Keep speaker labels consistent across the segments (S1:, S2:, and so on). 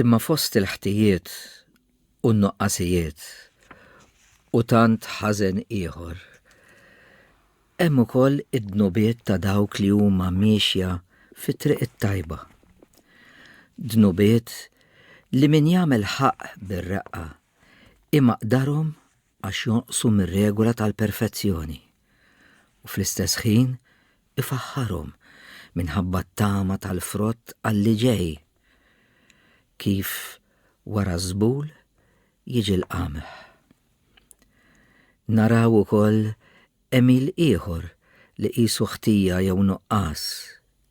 S1: Imma fost il-ħtijiet u n-nuqqasijiet u tant ħażen ieħor, hemm ukoll id-dnubiet ta' dawk li huma miexja fit-triq it-tajba. Dnubiet li min jagħmel ħaqq bir-reqqa imaqdarhom għax jonqsu mir-regola tal-perfezzjoni, u fl-istess ħin ifaħħarhom minħabba t-tama tal-frott għall-li ġej, kif wara ż-żbul jiġi l-qamħ. Naraw ukoll għemil ieħor li qisu ħtija jew nuqqas,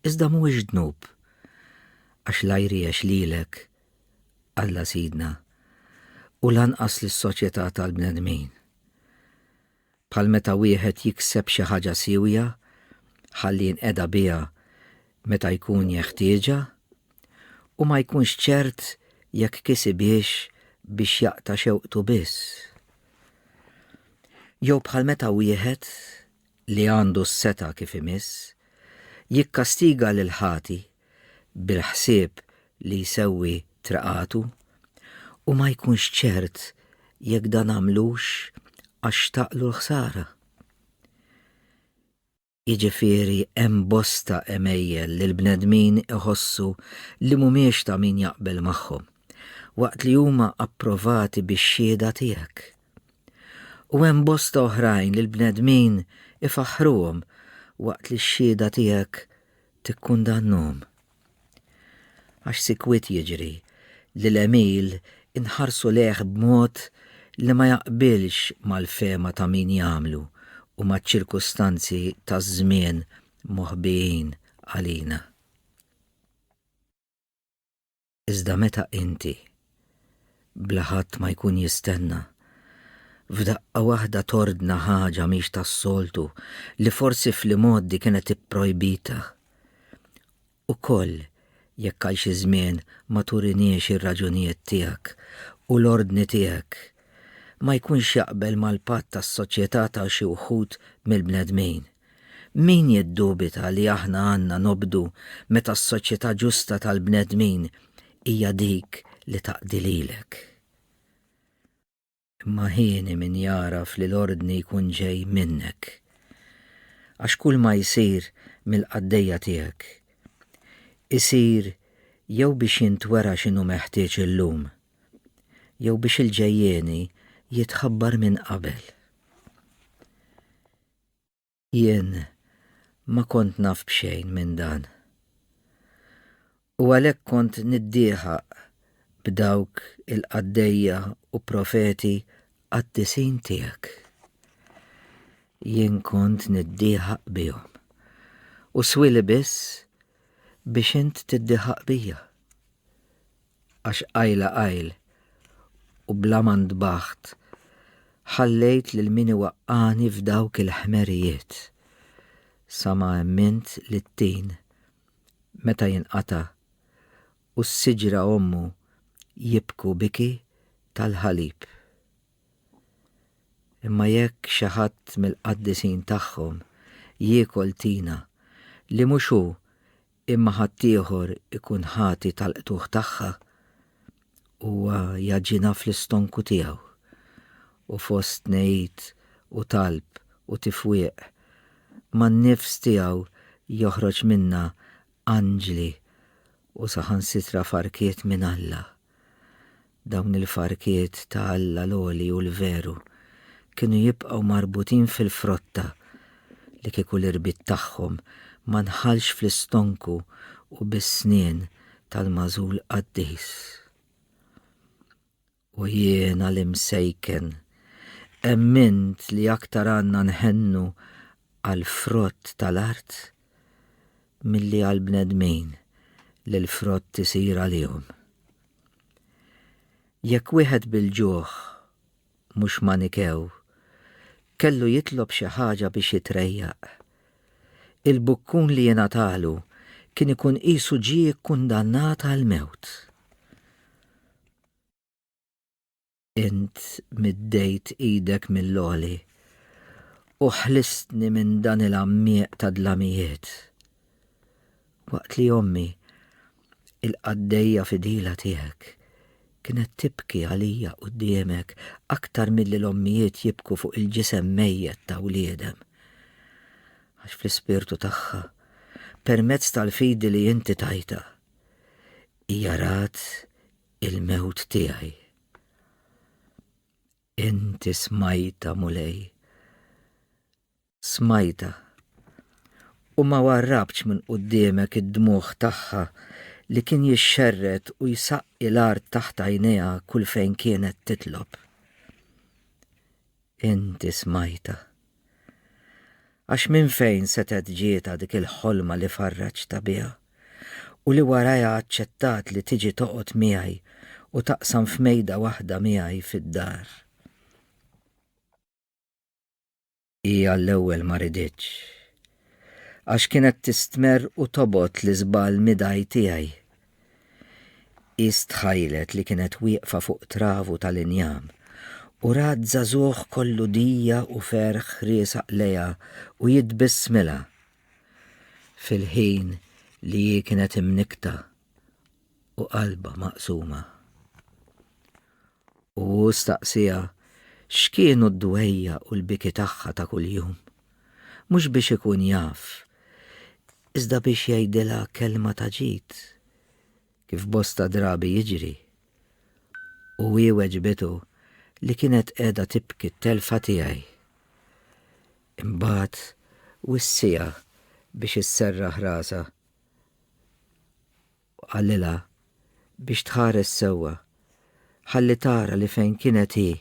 S1: iżda mhuwiex dnub, għax la jriex lilek Alla Sidna, u lanqas lis-soċjetà tal-bnedmin. Bħal meta wieħed jikseb xi ħaġa siewja ħalli jinqeda biha meta jkun jeħtieġha u ma jkunx ċert jekk kisibhiex biex jaqta' xewqtu biss. Jew bħal meta wieħed li għandu s-seta' kif imiss jikkastiga lil ħati bil-ħsieb li jsewwi triqatu u ma jkunx ċert jekk dan għamlux għax xtaqlu l-ħsara. Jiġifieri hemm bosta għemejjel li l-bnedmin iħossu li mhumiex ta' min jaqbel magħhom, waqt li huma approvati bix-xhieda tiegħek. U hemm bosta oħrajn li l-bnedmin ifaħħruhom waqt li x-xhieda tiegħek tikkundannahom. Għax sikwit jiġri li l-għemil inħarsu lejh b'mod li ma jaqbilx mal-fehma ta' min jagħmlu u maċ-ċirkustanzi taż-żmien moħbijin għalina. Iżda meta inti, bla ħadd ma jkun jistenna, f'daqqa waħda tordna ħaġa mhix tas-soltu li forsi fl-imgħoddi kienet ipprojbita, ukoll jekk għal xi żmien ma turiniex ir-raġunijiet tiegħek u l-ordni tiegħek, ma jkunx jaqbel mal-patt tas-soċjetà ta' xi wħud mill-bnedmin. Min jiddubita li aħna għandna nobdu meta s-soċjetà ġusta tal-bnedmin hija dik li taqdi lilek? Imma hieni min jagħraf li l-ordni jkun ġej minnek. Għax kulma jsir mill-qaddejja tiegħek, isir jew biex jintwera x'inhu meħtieġ illum, jew biex il-ġejjieni jitħabbar minn qabel. Jien ma kont naf b'xejn minn dan. U għalhekk kont niddieħaq b'dawk il-qaddejja u profeti qaddisin tiegħek. Jien kont niddieħaq bihom. U swili biss biex int tiddieħaq bija. għax qajla qajl u bla ma ntbaħt ħallejt lil min iwaqqagħni f'dawk il-ħmerijiet sa ma emmint li t-tin meta jinqata' u s-siġra ommu jibku biki tal-ħalib. Imma jekk xi ħadd mill-qaddisin tagħhom jiekol tina li mhux hu imma ħaddieħor ikun ħati tal-qtugħ tagħha, huwa jagħġinha fl-istonku tiegħu, u fost tnegħid u talb u tifwieq, man-nifs tiegħu joħroġ minnha anġli u saħansitra farkiet minn Alla. Dawn il-farkiet ta' Alla l-għoli u l-veru kienu jibqgħu marbutin fil-frotta li kieku l-irbit tagħhom ma nħallx fl-istonku u bis-snien tal-magħżul qaddis. O jiena l-imsejken! Emmint li aktar għandna nħennu għall-frott tal-art milli għall-bnedmin li l-frott isir għalihom. Jekk wieħed bil-ġuħ, mhux manikew, kellu jitlob xi ħaġa biex jitrejjaq, il-bukkun li jingħatalu kien ikun qisu ġie kkundannat għall-mewt. Int middejt idek mill-għoli u ħlistni minn dan il-għammieq ta' dlamijiet. Waqt li ommi, il-qaddejja fidila tiegħek, kienet tibki għalija quddiemek aktar milli l-ommijiet jibku fuq il-ġisem mejjet ta' wliedem. Għax fl-ispirtu tagħha, permezz tal-fidi li inti tajta, hija rat il-mewt tiegħi. Inti smajta, mulej. Smajta. U ma warrabx minn qudiemek id-dmuħ tagħha li kien jixxerret u jsaqqi l-art taħt għajnejha kull fejn kienet titlob. Inti smajtha. Għax minn fejn setgħet ġietha dik il-ħolma li farraġtha biha u li warajha aċċettat li tiġi toqgħod miegħi u taqsam f'mejda waħda miegħi fid-dar? Hija l-ewwel ma riditx, għax kienet tistmerr u tobgħod l-iżball midgħi tiegħi. Qist tħajlet li kienet wieqfa fuq travu tal-injam u rat żagħżugħ kollu dija u ferħ riesaq lejha u jitbissmilha fil-ħin li hi kienet imnikkta u qalbha maqsuma. U hu staqsieha x'kienu d-dwejjaq u l-biki tagħha ta' kuljum. Mhux biex ikun jaf, iżda biex jgħidilha kelma ta' ġid, kif bosta drabi jiġri. U hi weġbitu li kienet qiegħda tibki t-telfa tiegħi. Imbagħad wissieha biex isserraħ rasha Qalilha biex tħares sewwa, ħalli tara li fejn kienet hi,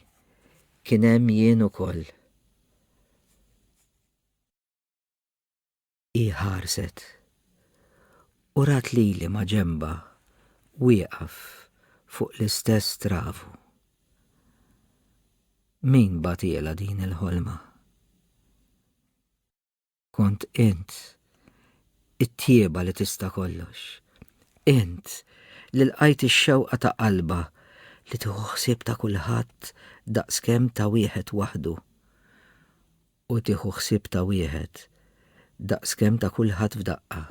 S1: kien hemm jien ukoll. Hi ħarset u rat lili maġenbha wieqaf fuq l-istess travu. Min bagħtielha din il-ħolma? kont int, it-tieba li tista' kollox. Int li lqajt ix-xewqa ta' qalba li tieħu ħsieb ta' kulħadd daqskemm ta' wieħed waħdu u tieħu ħsieb ta' wieħed daqskemm ta' kulħadd f'daqqa.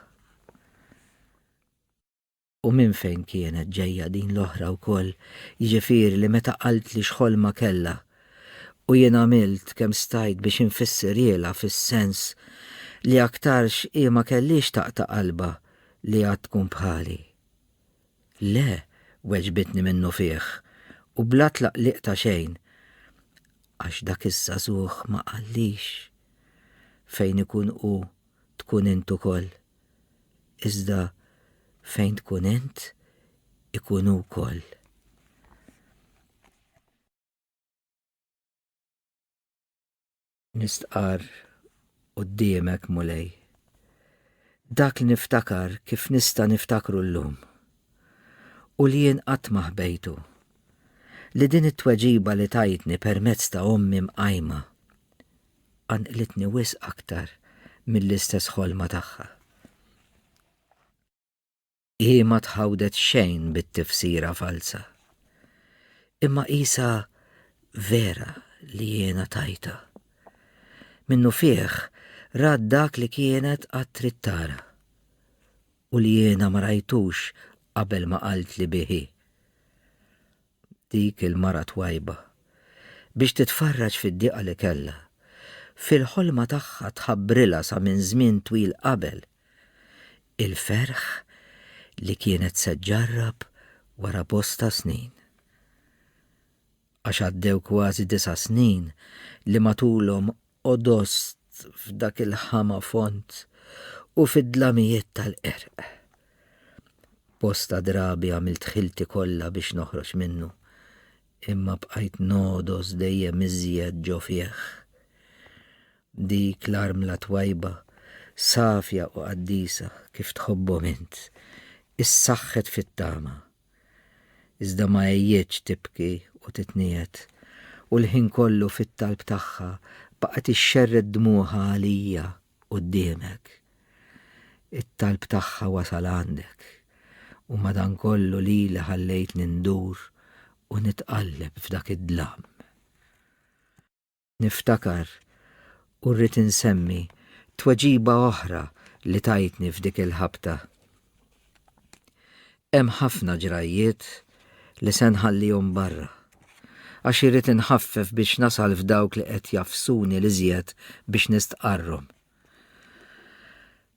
S1: U minn fejn kienet ġejja din l-oħra wkoll, jiġifieri li meta qaltli x'ħolma kellha, u jien għamilt kemm stajt biex infissirielha fis-sens li aktarx hi ma kellhiex taqta' qalbha li għad tkun bħali. Le, weġbitni minnufih, u bla tlaqliq ta' xejn, għax dak iż-żagħżugħ ma qallix fejn ikun hu tkun int ukoll, iżda fejn tkun int ikun hu wkoll. Nistqarr quddiemek, Mulej, dak li niftakar kif nista' niftakru llum u li jien qatt ma ħbejtu, li din it-tweġiba li tajtni permezz ta' ommi mqajma, qanqlitni wisq aktar mill-istess ħolma tagħha. Hi ma tħawdet xejn bit-tifsira falza, imma qisha vera li jiena tajtha. Minnufih rat dak li kienet qatt trid tara, u li jiena ma rajtux qabel ma qaltli bih hi. dik il-mara twajba, biex titfarraġ fid-diqa li kellha. Fil-ħolma tagħha tħabbrilha sa minn żmien twil qabel, il-ferħ li kienet se ġġarrab wara bosta snin. Għax għaddew kważi disa' snin li matulhom odost f'dak il-ħama fond u fid-dlamijiet tal-qerq. Bosta drabi għamilt ħilti kollha biex noħroġ minnu, imma bqajt nodos dejjem iżjed ġo fih. Dik l-armla twajba, safja u qaddisa kif tħobbhom int, issaħħet fit-tama iżda ma għejjietx tibki u titniegħed, u l-ħin kollu fit-talb tagħha baqgħet ixxerred dmugħha għalija quddiemek. It-talb tagħha wasal għandek, u madankollu lili ħallejtni ndur u nitqalleb f'dak id-dlam. Niftakar, u rrid insemmi, tweġiba oħra li tajtni f'dik il-ħabta. Hemm ħafna ġrajjiet li se nħallihom barra, għax irrid inħaffef biex nasal f'dawk li qed jafsuni l-iżjed biex nistqarrhom.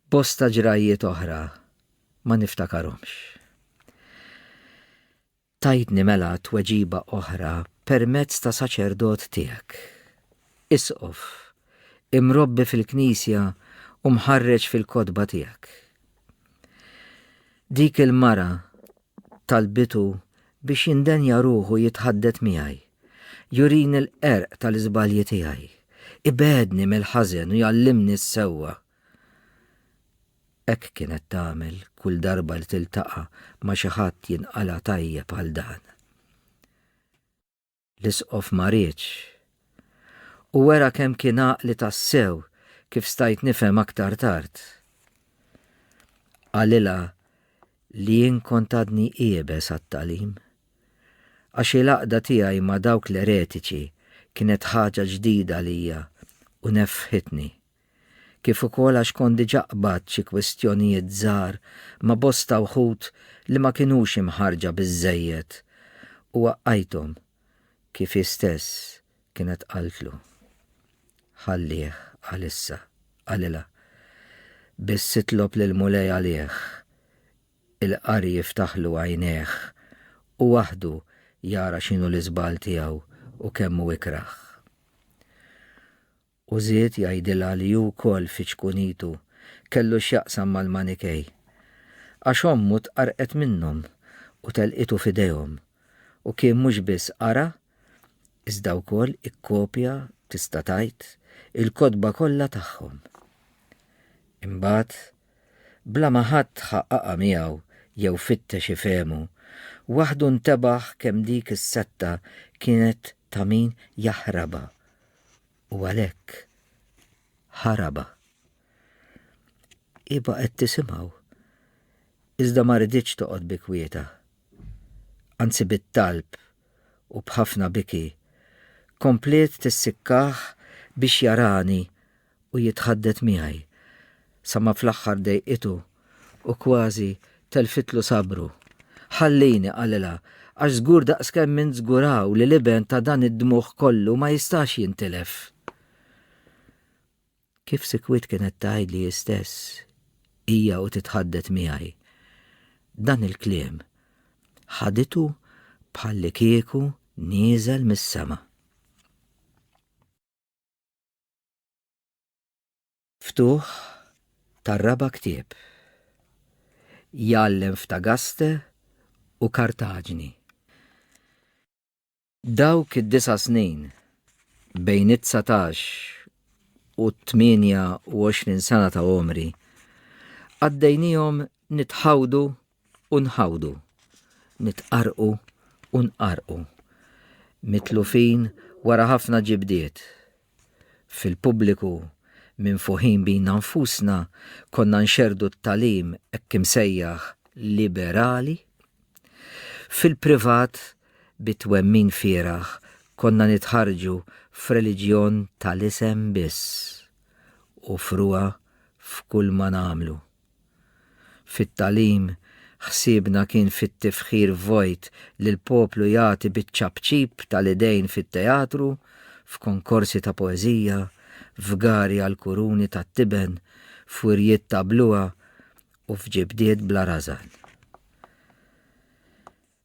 S1: Bosta ġrajjiet oħra ma niftakarhomx. Tajtni mela tweġiba oħra permezz ta' saċerdot tiegħek, Isqof, imrobbi fil-Knisja u mħarreġ fil-kotba tiegħek. Dik il-mara talbitu biex jindenja ruħu jitħaddet miegħi, jurini l-qerq tal-iżbalji tiegħi, ibedni mill-ħażen u jallimni s-sewwa. Hekk kienet tagħmel kull darba li tiltaqa' ma' xi ħadd jinqala' tajjeb għal dan. L-Isqof ma riedx. U wera kemm kien għaqli tassew kif stajt nifhem aktar tard. Qalilha li jien kont għadni iebes għat-tagħlim. Għax il-għaqda tiegħi ma' dawk l-eretiċi kienet ħaġa ġdida għalija u neffħitni. kif ukoll għax kont diġà qbadt xi kwistjonijiet żgħar ma' bosta wħud li ma kinux imħarrġa biżżejjed u waqqajthom kif hi stess kienet qaltlu. Ħallih għalissa, qalilha. Biss itlob lill-Mulej għalih. Il-qari jiftaħlu għajnejh u waħdu jara x'inhu l-iżball tiegħu u kemm hu ikrah. U żied jgħidilha li hu wkoll fi ċkunitu kellu x'jaqsam mal-Manikej, għax ommu tqarrqet minnhom u telqitu f'idejhom, u kien mhux biss qara iżda wkoll ikkopja, tista' tgħid, il-kotba kollha tagħhom. Imbagħad, bla ma ħadd ħa qaqa' miegħu jew fittex ifehmu, waħdu ntebaħ kemm dik is-setta kienet ta' min jaħrabha u għalhekk ħaraba. Iba qed tisimgħu. Iżda ma riditx toqgħod bi kwieta. Anzi bit-talb u b'ħafna biki kompliet tissikkah biex jarani u jitħaddet miegħi, sa ma fl-aħħar dejqitu u kważi telfitlu sabru. Ħallini, qalilha, għax żgur daqskemm int żguraw li l-iben ta' dan id-dmugħ kollu ma jistax jintilef. Kif sikwit kienet tgħidli hi stess, hija u titħaddet miegħi. Dan il-kliem ħaditu bħallikieku nieżel mis-sema. Ftuħ tar-raba' ktieb. Jgħallem f'Tagaste u Kartaġni. Dawk id-disa' snin, bejn it-dsatax u t-tmienja u għoxrin sena ta' għomri, qaddejniehom nitħawdu u nħawdu, nitqarrqu u nqarrqu, mitlufin wara ħafna ġibdiet. Fil-pubbliku, minfuħin bina nfusna, konna nxerrdu t-tagħlim hekk imsejjaħ liberali. Fil-privat, bi twemmin fieragħ, konna nitħarrġu f'reliġjon tal-isem biss u frugħa f'kulma nagħmlu. Fit-tagħlim, ħsiebna kien fit-tifħir vojt li l-poplu jagħti biċ-ċapċip tal-idejn fit-teatru, f'konkorsi ta' poeżija, f'gari għall-kuruni tat-tiben, f'wirjiet ta' bluha u f'ġibdiet bla rażan.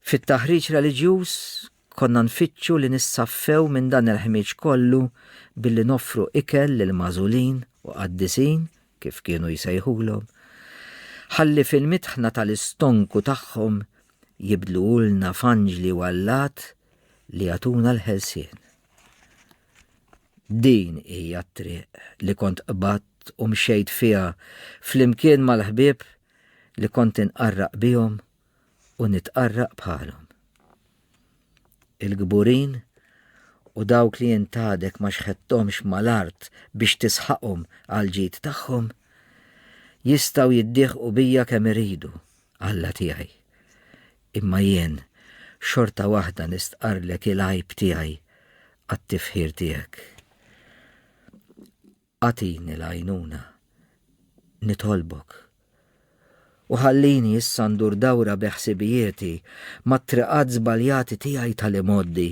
S1: Fit-taħriġ reliġjuż konna nfittxu li nissaffew minn dan il-ħmieġ kollu billi noffru ikel lill-magħżulin u qaddisin, kif kienu jsejħulhom, ħalli fil-mitħna tal-istonku tagħhom jibdluhulna f'anġli u allat li jagħtuna l-ħelsien. Din hija t-triq li kont qbadt u mxejt fiha flimkien mal-ħbieb li kont inqarraq bihom u nitqarraq bħalhom. Il-kburin u dawk li intadek ma xħettomx mal-art biex tisħaqhom għall-ġid tagħhom jistgħu jiddieħqu bija kemm iridu, Alla tiegħi. Imma jien xorta waħda nistqarrlek il-għajb tiegħi għat-tifħir tiegħek. Agħtini l-għajnuna, nitolbok, u ħallini issa ndur dawra bi ħsibijieti mat-triqat żbaljati tiegħi tal-imgħoddi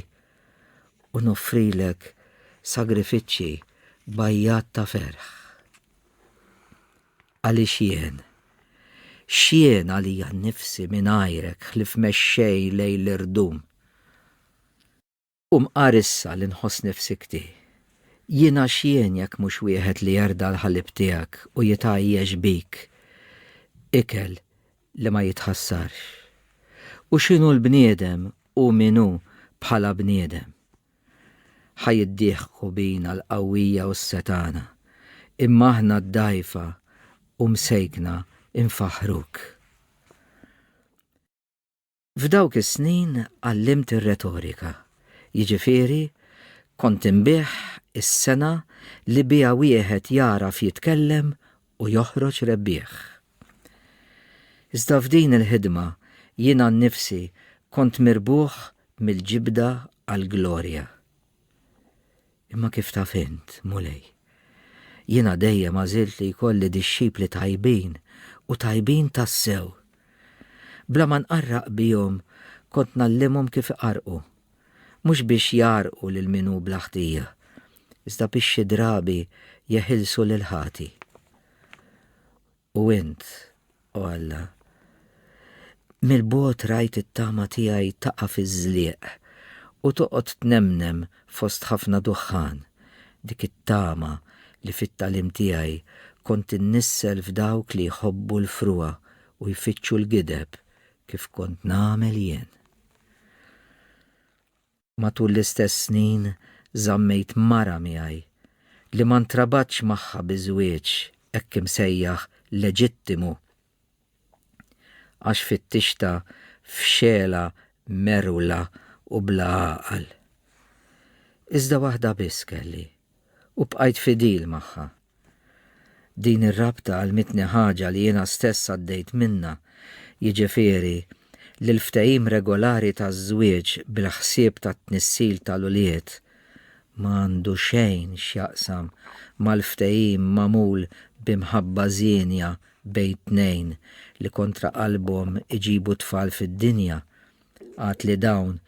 S1: u noffrilek sagrifiċċji b'għajjat ta' ferħ. Għaliex jien, x'jien għalija nnifsi mingħajrek ħlief mexxej lejl irdum? U mqar issa li nħoss nifsi kti. Jiena x'jien jekk mhux wieħed li jerda' l-ħalib tiegħek u jitgħajjex bik, ikel li ma jitħassarx. U x'inhu l-bniedem hu min hu bħala bniedem? Ħa jiddieħku bina l-qawwija u s-setgħana, imma aħna d-dgħajfa u msejkna nfaħħruk. F'dawk is-snin għallimt ir-retorika, jiġifieri kont inbigħ is-sengħa li biha wieħed jagħraf jitkellem u joħroġ rebbieħ. Iżda f'din il-ħidma jiena nnifsi kont mirbuħ mill-ġibda għall-glorja. Imma kif taf int, Mulej, jiena dejjem għażilt li jkolli dixxipli tajbin u tajbin tassew. Bla ma nqarraq bihom kont ngħallimhom kif iqarrqu, mhux biex jgħarrqu lil min hu bla ħtija, iżda biex xi drabi jeħilsu lill-ħati. U int, o Alla, mill-bogħod rajt it-tama tiegħi taqa' fiż-żlieq u toqgħod tnemnem fost ħafna duħħan, dik it-tama li fit-tagħlim tiegħi kont innissel f'dawk li jħobbu l-frugħa u jfittxu l-gideb kif kont nagħmel jien. Matul l-istess snin żammejt mara miegħi li ma ntrabatx magħha bi żwieġ hekk imsejjaħ leġittimu għax fittixtha f'xegħla merwla u bla għaqal. Iżda waħda biss kelli, u bqajt fidil magħha. Din ir-rabta għallmitni ħaġa li jiena stess għaddejt minnha, jiġifieri li l-ftehim regolari taż-żwieġ bil-ħsieb tat-tnissil tal-ulied ma għandu xejn x'jaqsam mal-ftehim magħmul bi mħabba żienja bejn tnejn li kontra qalbhom iġibu t-tfal fid-dinja Għad li dawn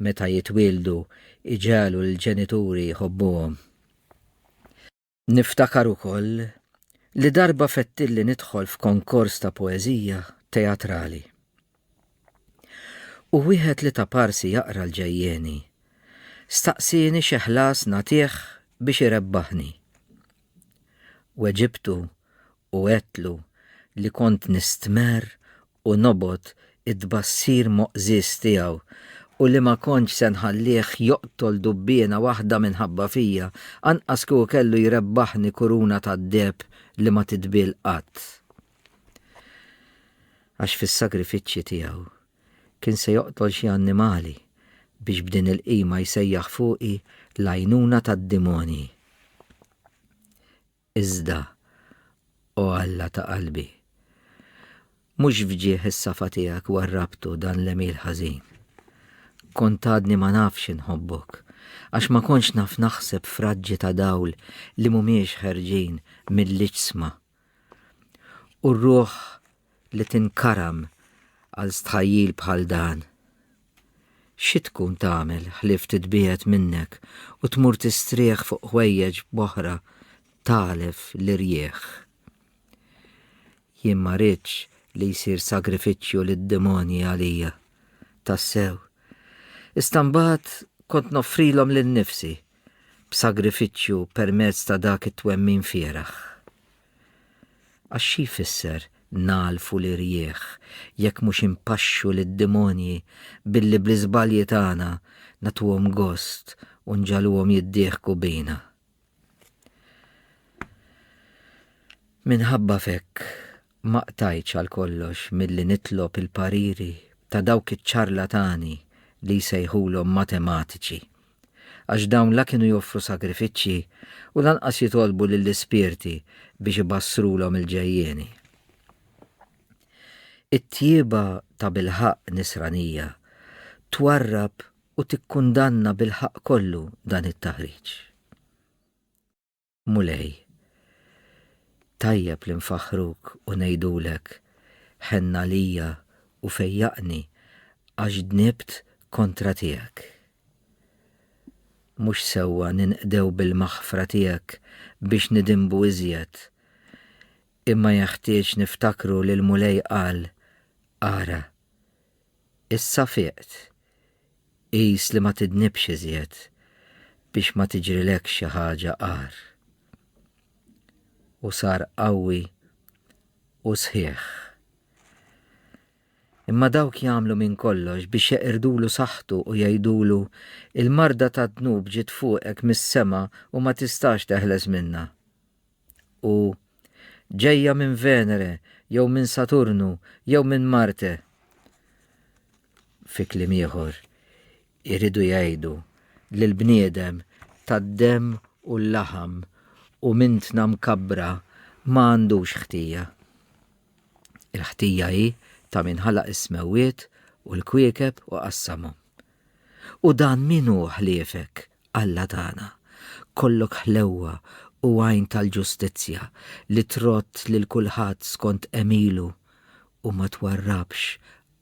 S1: meta jitwieldu jġegħlu lill-ġenituri jħobbuhom. Niftakar ukoll li darba fettilli nidħol f'konkors ta' poeżija teatrali. U wieħed li ta' parsi jaqra l-ġejjieni, staqsieni xi ħlas nagħtih biex irebbaħni. Weġibtu u għedtlu li kont nistmerr u nobgħod it-tbassir moqżież tiegħu, u li ma kontx se nħallih joqtol dubbiena waħda minħabba fija, anqas kieku kellu jrebbaħni kuruna tad-deheb li ma titbiel qatt. Għax fis-sagrifiċċji tiegħu kien se joqtol xi annimali biex b'din il-qima jsejjaħ fuqi l-għajnuna tad-dimonji. Iżda, O Alla ta' qalbi, mhux f'ġieħ is-safa tiegħek warrabtu dan l-għemil ħażin. Kont għadni ma nafx inħobbok, għax ma kontx naf naħseb f'raġġi ta' dawl li mhumiex ħerġin mill-iġsma. U r-ruħ li tinkaram għal stħajjil bħal dan. Xi tkun tagħmel ħlief titbiegħed minnek u tmur tistrieħ fuq ħwejjeġ b'oħra tagħlef l-irjieħ? Jien ma rridx li jsir sagrifiċċju lid-demonji għalija. Tassew. Issa mbagħad kont noffrilhom lil nifsi b'sagrifiċċju permezz ta' dak it-twemmin fieraħ. Għax xi jfisser nagħlfu l-irjieħ jekk mhux inpaxxu lid-demonji billi bl-iżbalji tagħna nagħtuhom gost u nġagħluhom jiddieħku bina? Minħabba f'hekk ma qtajtx għal kollox milli nitlob il-pariri ta' dawk iċ-ċarlatani li jsejħulhom matematiċi għax dawn la kienu joffru sagrifiċċji u lanqas jitolbu lill-ispirti biex ibassrulhom il-ġejjieni. It-tjieba tabilħaqq Nisranija twarrab u tikkundanna bilħaqq kollu dan it-taħriġ. Mulej. Tajjeb li nfaħħruk u ngħidulek, Ħenn għalija u fejjaqni għax dnibt kontra tiegħek. Mhux sewwa ninqdew bil-maħfra tiegħek biex nidinbu iżjed, imma jeħtieġ niftakru li l-Mulej qal, Ara, Issa fiqt. Qis li ma tidnibx iżjed biex ma tiġrilekx xi ħaġa agħar. U sar qawwi u sħiħ. Imma dawk jagħmlu minn kollox biex jeqirdulu saħħtu u jgħidulu, Il-marda tad-dnub ġiet fuqek mis-sema u ma tistax teħles minnha. u ġejja minn Venere jew minn Saturnu jew minn Marte. Fi kliem ieħor, iridu jgħidu li l-bniedem tad-demm u l-laħam u minn tna mkabbra ma għandux ħtija. Il-ħtija hi ta' min ħalaq is-smewwiet u l-kwiekeb u qassamhom. U dan min hu ħliefek, Alla tagħna? Kollok ħlewwa u għajn tal-ġustizzja li trodd lil kulħadd skont għemilu u ma twarrabx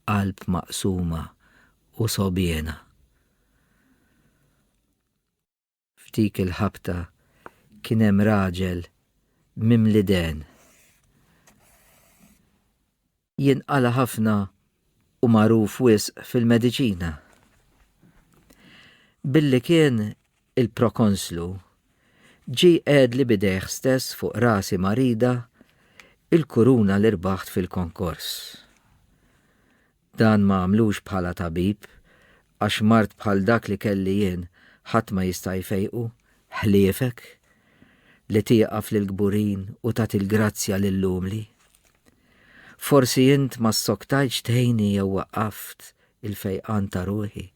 S1: qalb maqsuma u sogħbiena. F'dik il-ħabta kien hemm raġel mimli dehen. Jinqala' ħafna u magħruf wisq fil-mediċina. Billi kien il-prokonslu, ġie qegħedli b'idejh stess fuq rasi marida il-kuruna li rbaħt fil-konkors. Dan ma għamlux bħala tabib, għax mard bħal dak li kelli jien ħadd ma jista' jfejqu, ħliefek, li tieqaf lill-kburin u tagħti l-grazzja lill-umli. Forsi int ma ssoktajtx tgħinni jew waqqaft il-fejqan ta' ruħi,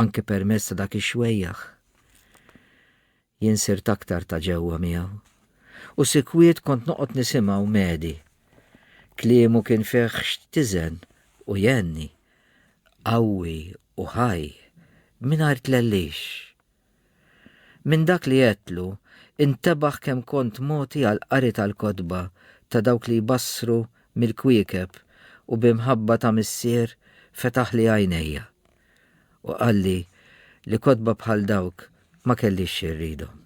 S1: anki permezz ta' dak ix-xwejjaħ. Jien sirt aktar ta' ġewwa miegħu, u sikwit kont noqgħod nisimgħu medi. Kliemu kien fih x'tiżen u jgħenni, qawwi u ħaj, mingħajr tlellix. Minn dak li għedtlu, intebaħ kemm kont mogħti għall-qari tal-kotba ta' dawk li jbassru mill-kwiekeb u b'imħabba ta' Missier fetaħli għajnejja. u qalli li kotba bħal dawk ma kellix xi rridhom.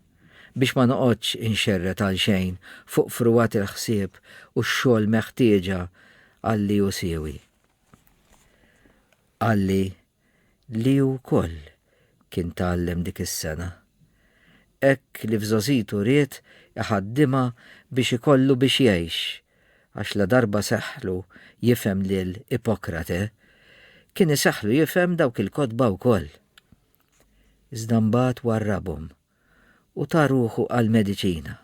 S1: Biex ma noqgħodx inxerred għalxejn fuq frugħat il-ħsieb u x-xogħol meħtieġa għal li hu siewi. Qalli li hu wkoll kien tgħallem dik is-sena. Hekk li f'żgħożitu ried iħaddimha biex ikollu biex jgħix għax ladarba seħħlu jifhem lil Ipokrate, kien iseħħlu jifhem dawk il-kotba wkoll. Iżda mbagħad warrabhom u ta ruħu għall-mediċina.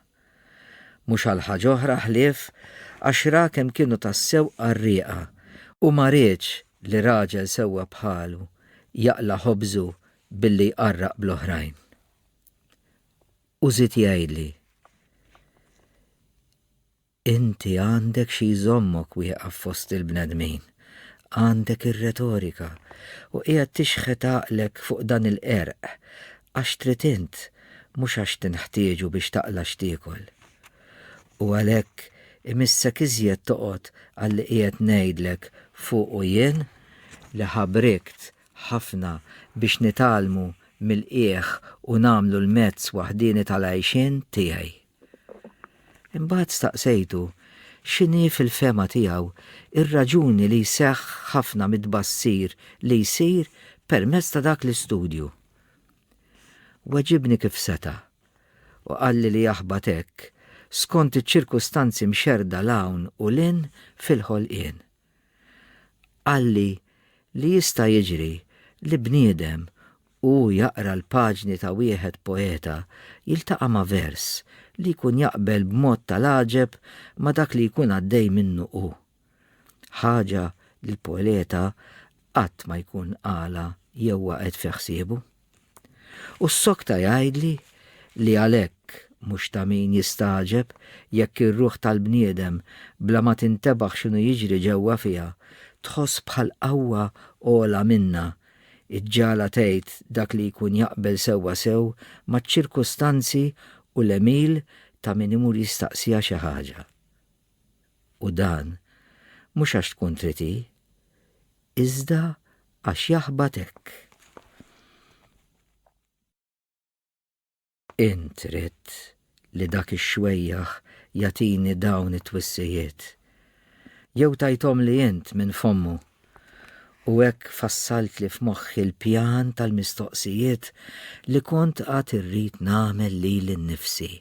S1: Mhux għal ħaġa oħra ħlief għax ra kemm kienu tassew qarrieqa u ma riedx li raġel sewwa bħalu jaqla' ħobżu billi jqarraq bl-oħrajn. U żied jgħidli, Inti għandek xi jżommok wieqaf fost il-bnedmin, għandek ir-retorika, u qiegħed tixħet għaqlek fuq dan il-qerq għax trid int, mhux għax tinħtieġu biex taqla' x'tiekol. U għalhekk imissek iżjed toqgħod għalli qiegħed ngħidlek fuqu jien, li ħabrikt ħafna biex nitgħallmu mill-qiegħ u nagħmlu l-mezz waħdieni tal-għajxien tiegħi. Imbagħad staqsejtu x'inhi fil-fehma tiegħu r-raġuni li jseħħ ħafna mit-tbassir li jsir permezz ta' dak l-istudju. Weġibni kif seta', u qalli li jaħbat hekk skont iċ-ċirkustanzi mxerrda 'l hawn u 'l hinn fil-ħolqien. Qalli li jista' jiġri li bniedem u hu jaqra l-paġni ta' wieħed poeta jiltaqa' ma' vers li jkun jaqbel b'mod tal-għaġeb ma' dak li jkun għaddej minnu hu. Ħaġa li l-poeta qatt ma jkun qalha jew waqgħet fi ħsiebu. U ssokta jgħidli li għalhekk mhux ta' min jistagħġeb jekk ir-ruħ tal-bniedem, bla ma tintebaħ x'inhu jiġri ġewwa fiha, tħoss bħal qawwa ogħla minnha, iġġagħlha tgħid dak li jkun jaqbel sewwa sew maċ-ċirkustanzi u l-għemil ta' min imur jistaqsiha xi ħaġa. U dan mhux għax tkun trid hi, Iżda għax jaħbat hekk. Int ridt li dak ix-xwejjaħ jagħtini dawn it-twissijiet. Jew tajthomli int minn fommu. U hekk fassaltli f'moħħi l-pjan tal-mistoqsijiet li kont għad irrid nagħmel lili nnifsi.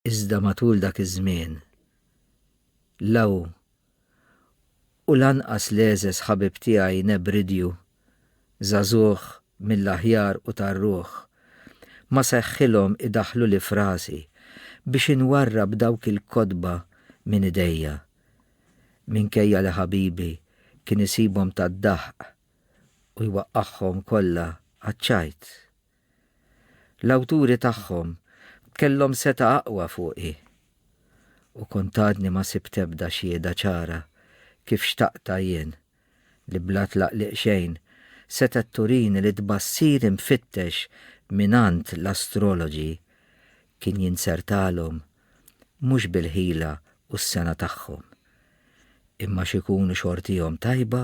S1: Iżda matul dak iż-żmien, la hu u lanqas l-għeżeż ħabib tiegħi Nebridju, żagħżugħ mill-aħjar u tar-ruħ, ma seħħilhom idaħħluli f'rasi biex inwarrab dawk il-kotba minn idejja, minkejja li ħabibi kien isibhom tad-daħq u jwaqqagħhom kollha għaċ-ċajt. L-awturi tagħhom kellhom setgħa aqwa fuqi u kont għadni ma sibt ebda xhieda ċara kif xtaqtha jien li bla tlaqliq xejn setgħet turini li tbassir imfittex mingħand l-astrologi kien jinzertalhom mhux bil-ħila u s-sena tagħhom imma x'ikunu xortihom tajba